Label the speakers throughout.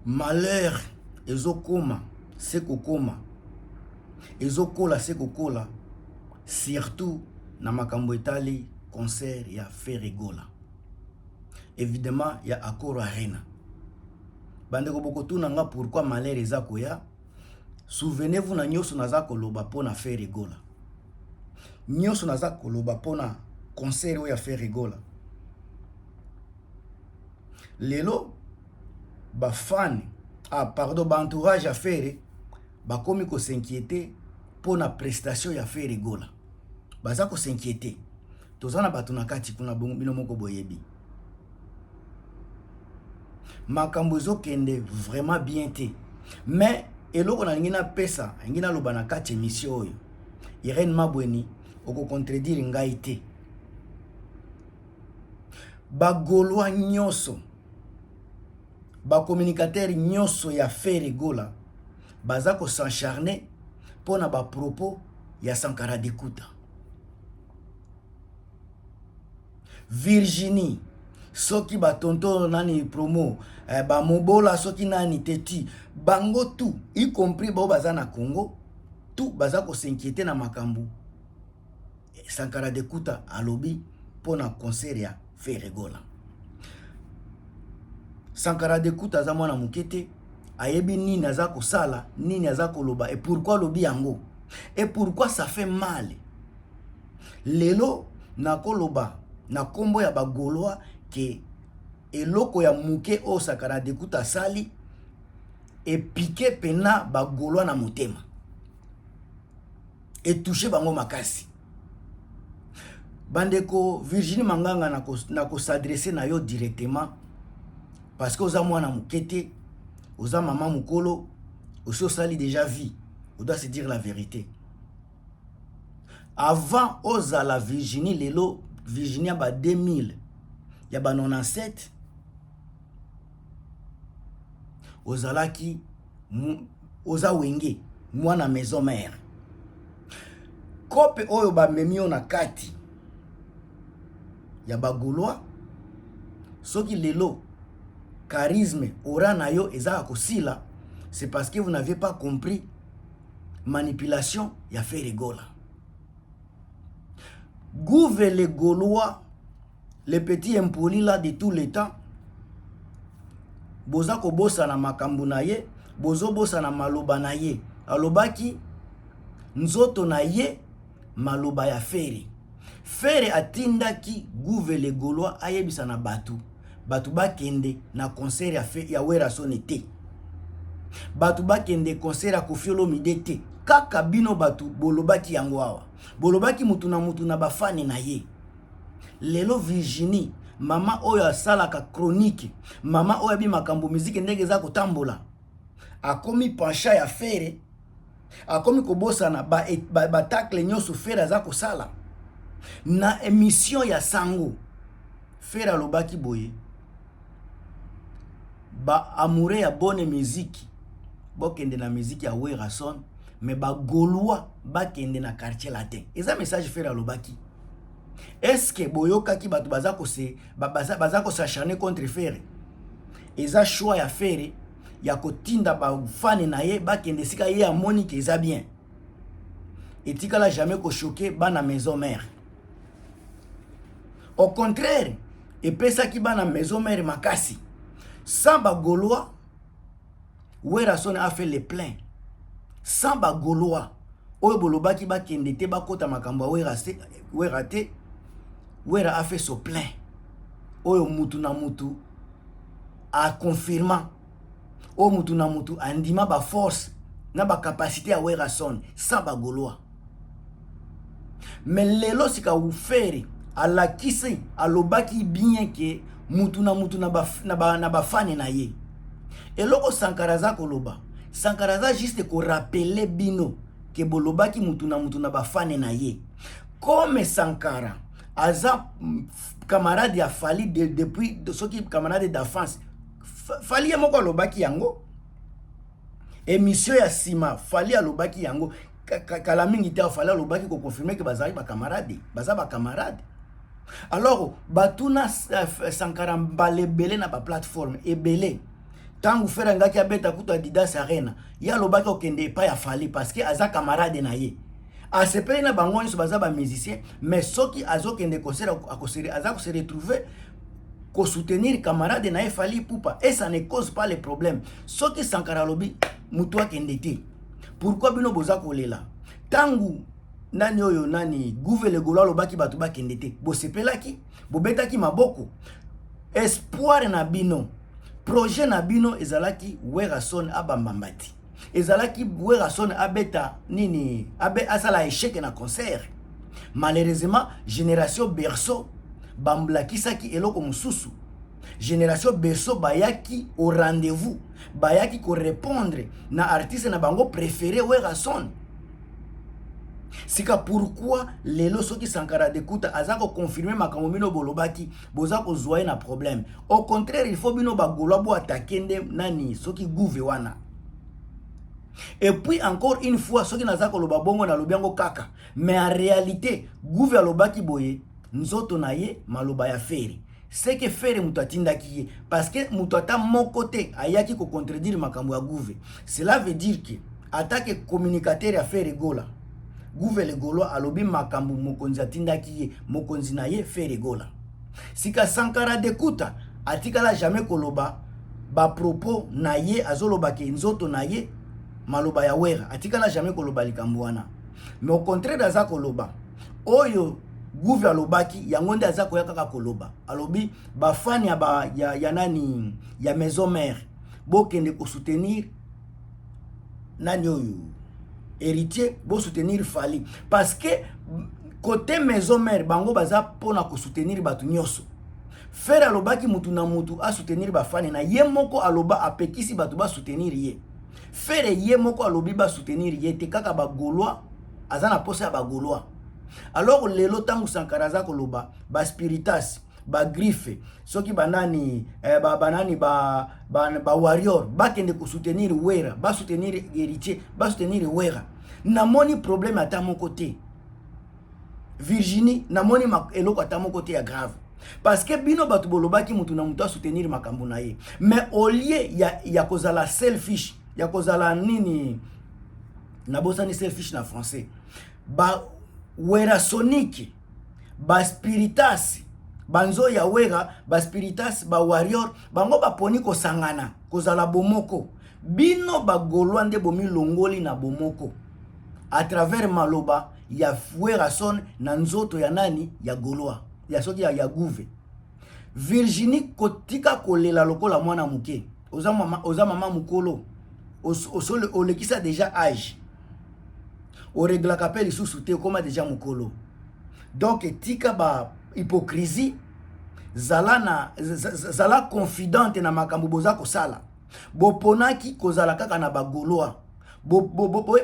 Speaker 1: malheur ezokoma se kokoma ezokola se kokola surtout na makambo etali concert ya Ferregola evidemment ya Accor Arena bandeko bokotuna nga pourquoi malheur eza koya souvenez-vous na nyonso naza koloba mpo na Ferregola nyonso naza koloba mpo na concert oyo ya Ferregola lelo ba fan ah pardon ba entourage ya Ferre bakomi ko s'inquiéter mpo na prestation ya Ferre Gola baza ko s'inquiéter toza na bato na kati kuna bino moko boyebi makambo ezokende vraiment bien te mais eloko nalingi napesa alingi naloba na kati emission oyo irene mabweni okocontredire ngai te ba golois nyoso ba communicateurs nyoso ya Ferre Gola baza ko s'encharner mpo na ba propos ya Sankara Dikuta Virginie soki ba tonto nani promo eh, ba mobola soki nani teti bango tout y compris bao baza na Congo tout baza ko s'inquiéter na makambo Sankara Dekuta alobi mpo na concert ya Ferre Gola. Sankara Dekuta aza mwana moke te, ayebi nini aza kosala, nini aza koloba et pourquoi alobi yango et pourquoi ça fait mal. Lelo nakoloba na nkombo ya bagolois ke eloko ya moke oyo Sankara Dekuta asali epike mpena bagolois na motema. etouche bango makasi bandeko virginie manganga na kosadresse na yo directement parce que oza mwana moke te oza mama mokolo osi osali déjà vie odoit se dire la vérité avant ozala virginie lelo virginie ya ba 2000 ya ba 97 ozalaki oza wenge mwana maison mère kope oyo bamemi yo na kati ya bagolois soki lelo charisme ora na yo eza ya kosila c'est parce que vous n'avez pas compris manipulation ya ferre gola gouve le golois le petit impoli là de tout le temps boza kobosana makambo na ye bozobosana maloba na ye alobaki nzoto na ye maloba ya fere fere atindaki guve le golois ayebisa na bato bato bakende na concert ya, fe, ya werasone te bato bakende concert ya kofiolomide te kaka bino bato bolobaki yango awa bolobaki motu na motu na bafane na ye lelo virginie mama oyo asalaka chronique mama oyo abi makambo miziki ndenge eza kotambola akomi pencha ya fere akomi kobosana batakle ba, ba nyonso fere aza kosala na emission ya sango fere alobaki boye ba amoureux ya bonne musique bokende na musique ya werrason mais bagolois bakende na quartier latin eza message fere alobaki est-ce que boyokaki bato baza kose baza, baza kosacharne contre fere eza choix ya fere ya kotinda bafane na ye bakende esika ye amoni ke eza bien etikala jamais koshoke bana maison mère au contraire epesaki bana maison mère makasi sans bagolois werrason a fait le plein sans bagolois oyo bolobaki bakende te bakota makambo ya wera te wera a fait son plein oyo mutu na mutu aconfirma oyo mutu na mutu andima baforce na bacapacité ya werrason sans bagolois me lelo sika ufere alakisi alobaki bien ke mutu na mutu na bafane ba, na, ba na ye eloko sankara aza koloba sankara aza juste korapele bino ke bolobaki mutu na mutu na bafane na ye comme sankara aza camarade ya fali de, depuis soki camarade d'enfance fali ye moko alobaki yango Emission ya sima Fally alobaki yango kala mingi te Fally alobaki ko confirmer que bazali ba camarades, baza ba camarades. Alors batuna euh, Sankara mbala ebele na ba plateforme ebele ntango fere angaki abeta kutu adidas arena ye alobaki okende epai ya fali parce que aza camarade na ye asepeli na bango nyonso baza bamusicien mais soki azokende concert aza kose retrouve ko soutenir camarade na ye Fally Ipupa et ça ne cause pas les problèmes soki Sankara alobi mutu akende te pourquoi bino boza kolela tangu nani oyo nani guve legolo alobaki bato bakende te bosepelaki bobetaki maboko espoir na bino projet na bino ezalaki werrason abambambati ezalaki werrason abeta nini abe asala echec na concert malheureusement génération berceau bamblakisaki eloko mosusu génération berceau bayaki au rendez-vous bayaki korépondre na artiste na bango préféré werrason sika pourquoi lelo soki sankara dekuta aza koconfirme makambo mino bolobaki boza kozwa ye na problème au contraire il faut bino bagolwa bo atake nde nani soki gouve wana et puis encore une fois soki naza koloba bongo nalobi yango kaka mais en réalité gouve alobaki boye nzoto na ye maloba ya feri seke fere moto atindaki ye parce que moto ata moko te ayaki kocontredire makambo ya gouve cela veut dire que atake communicateur ya fere gola Guvele Golois alobi makambo mokonzi atindaki ye, mokonzi na ye Ferre Gola. Sika Sankara Dekuta atikala jamais koloba ba propos na ye azoloba ke nzoto na ye maloba ya Wera atikala jamais koloba likambo wana. Mais au contraire aza koloba oyo Gouve alobaki yango nde aza koya kaka koloba. Alobi ba fan ya ba ya, ya nani ya maison mère bokende ko soutenir nani oyo héritier bo soutenir Fally parce que côté maison mère bango baza pona ko soutenir batu nyoso Ferre alobaki mutu na mutu a soutenir ba fane na ye moko aloba apekisi batu ba soutenir ye Ferre ye moko alobi ba soutenir ye te kaka ba gaulois aza na posa ya ba gaulois alors lelo tangu Sankara aza koloba ba spiritas ba griffe soki banani eh, ba banani ba ba, ba warrior bakende ko soutenir wera ba soutenir héritier ba soutenir wera namoni problème ata moko te virginie namoni eloko ata moko te ya grave parce que bino bato bolobaki motu na motu asoutenir makambo na ye mais au lieu ya, ya kozala selfish ya kozala nini nabosani selfish na français ba werasonique ba spiritas banzo ya wera ba spiritas ba warrior bango baponi kosangana kozala bomoko bino bagolwa nde bomilongoli na bomoko à travers maloba ya werrason na nzoto ya nani ya golwa ya soki ya, ya guve virginie kotika kolela lokola mwana moke oza mama oza mama mukolo osole olekisa deja age oreglaka mpe lisusu te okoma deja mukolo donc etika ba hypocrisie zala na zala confidente na makambo boza kosala boponaki kozala kaka na bagolois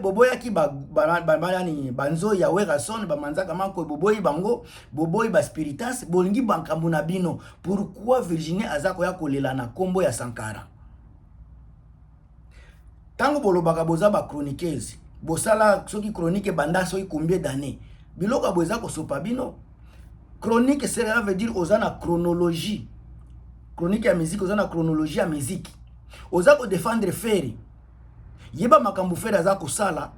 Speaker 1: boboyaki banani banzoi ya werrason bamanzaka makoy boboyi bango boboyi baspiritas bolingi bankambo na bino pourquoi virginie aza koya kolela na nkombo ya sankara ntango bolobaka boza bachroniqueuse bosala soki chronique ebanda soki combien d'année biloko boye eza kosopa bino chronique cela veut dire oza na chronologie chronique ya musique oza na chronologie ya musique oza kodefendre feri yeba makambo fere aza kosala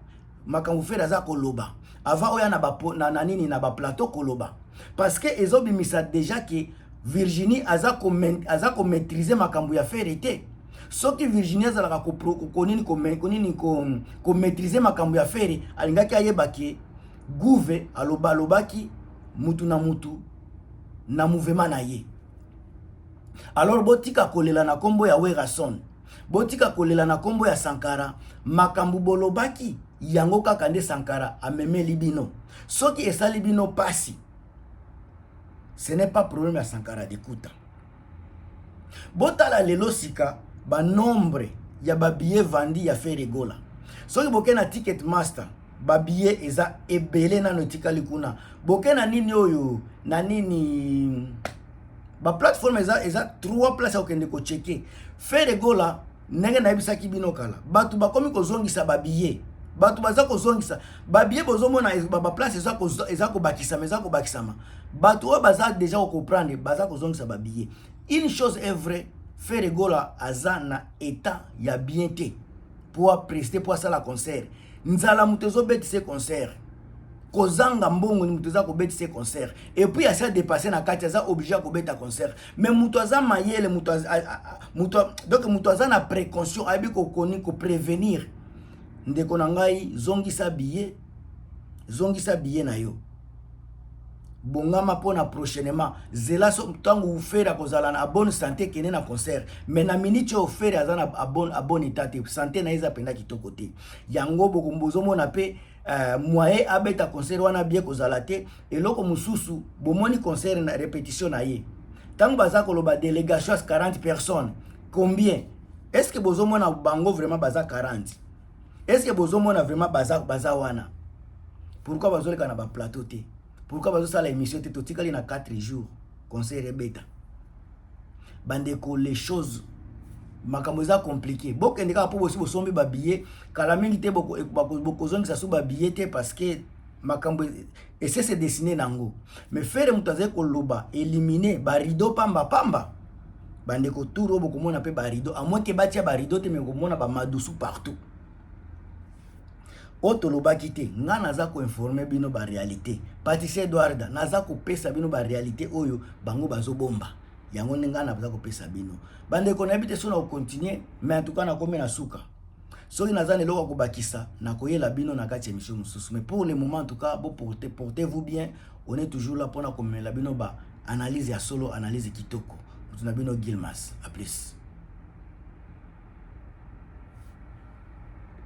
Speaker 1: makambo fere aza koloba avant oya na, ba, na, na nini na baplateau koloba parce que ezobimisa déjà ke virginie aza komaîtrise makambo ya fere te soki virginie azalaka konini konini komaîtrise makambo ya fere alingaki ayeba ke guve aloba alobaki mutu na mutu na mouvema na ye alors botika kolela na nkombo ya werrason Botika kolela na kombo ya Sankara, makambo bolobaki yango kaka nde Sankara amemeli bino. Soki esali bino pasi, ce n'est pas problème ya Sankara Dikuta. Botala lelo sika ba nombre ya ba billets vendus ya Ferre Gola. Soki boke na Ticket Master, ba billets eza ebele nano etikali kuna. Boke na nini oyo, na nini ba plateforme eza eza trois place ya kokende kocheke fere gola ndenge nayebisaki bino kala bato bakomi kozongisa babiye bato baza kozongisa babiye bozomona baplace eza kobakisama eza kobakisama bato oyo baza deja kokomprendre baza kozongisa babiye une chose est vrai fere gola aza na etat ya bien te mpo apreste mpo asala concert nzala moto ezobetise concert kozanga mbongo ni moto eza kobetise concert epuis asi adepasse na kati aza oblige ya kobeta concert mais moto aza mayele moto donc moto aza na précaution ayebi kokoni koprevenir ndeko na ngai zongisa biye zongisa biye na yo bongama mpo na prochainement zela so ntango ufere akozala na abone sante kende na concert me na miniti oyo fere aza na abone eta te sante na ye eza mpenza kitoko te yango bozomona mpe Uh, moye abeta concert wana bie kozala te eloko mosusu bomoni concert na repetition na ye ntango baza koloba délégation ya 40 personnes combien est ce que bozomona bango vraiment baza 40 est ce que bozomona vraiment baza, baza wana pourquoi bazoleka na baplateau te pourquoi bazosala émission te totikali na 4 jours concert ebeta bandeko les choses makambo eza compliqué bokende kaka mpo bosi bosombi babillet kala mingi te bokozongisa so babillet te parce que makambo et c'est se dessiner nango mais ferre moto azali koloba éliminer ba rideau pamba pamba bandeko tour oyo bokomona mpe ba rideau à moins ke batia ba rideau te mais bokomona ba madusu partout oyo tolobaki te nga naza koinforme bino barealité patisi edwarda naza kopesa bino barealité oyo bango bazobomba yango nde ngai naza kopesa bino bandeko nayebi te so na kocontinue mais antuka nakomi na suka soki naza na eloko ya kobakisa nakoyela bino na kati ya emission mosusu mais pour le moment en tout cas bo porte portez vous bien on est toujours là mpona komemela bino ba analyse ya solo analyse kitoko moto na bino gilmas a plus